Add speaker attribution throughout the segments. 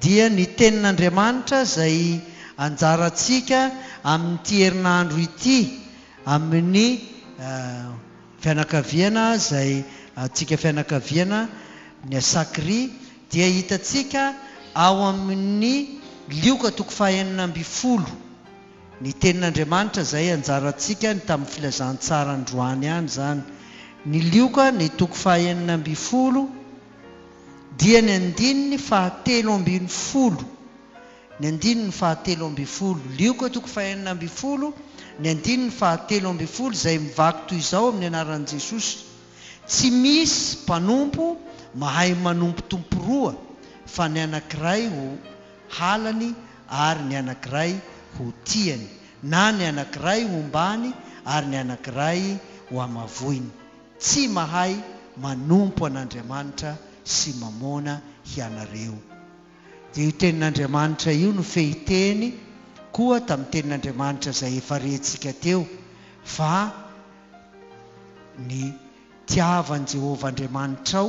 Speaker 1: dia ny Tenin'Andriamanitra izay anjarantsika amin'ity herinandro ity amin'ny fianakaviana izay antsika fianakaviana ny Asakri dia hitantsika ao amin'ny Lioka toko fahenina ambin'ny folo ny Tenin'Andriamanitra izay anjarantsika ny tamin'ny filazantsara androany ihany izany ny Lioka ny toko fahenina ambin'ny folo dia ny andininy fahatelo ambin'ny folo, ny andininy fahatelo ambin'ny folo, Lioka toko fahenina ambin'ny folo, ny andininy fahatelo ambin'ny folo, izay mivaky toy izao amin'ny anaran'i Jesosy, Tsy misy mpanompo mahay manompo tompo roa, fa ny anankiray ho halany ary ny anankiray ho tiany, na ny anankiray hombàny ary ny anankiray hohamavoiny. Tsy mahay manompo an'Andriamanitra sy Mamôna hianareo. Dia io tenin'Andriamanitra io no fehiteny koa tamin'ny tenin'Andriamanitra izay efa rentsika teo, fa ny tiava an'i Jehovah Andriamanitrao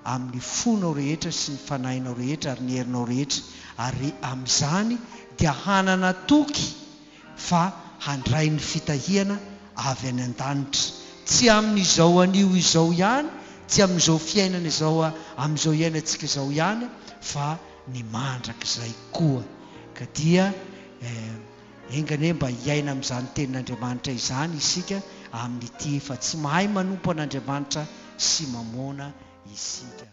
Speaker 1: amin'ny fonao rehetra sy ny fanahinao rehetra ary ny herinao rehetra, ary amin'izany dia hanana toky fa handray ny fitahiana avy any an-danitra, tsy amin'izao anio izao ihany, tsy amin'izao fiainana izao amin'izao iainantsika izao ihany, fa ny mandrakizay koa. Ka dia eh, enga anie mba hiaina amin'izany Tenin'Andriamanitra izany isika amin'ity, fa tsy mahay manompo an'Andriamanitra sy Mamôna isika.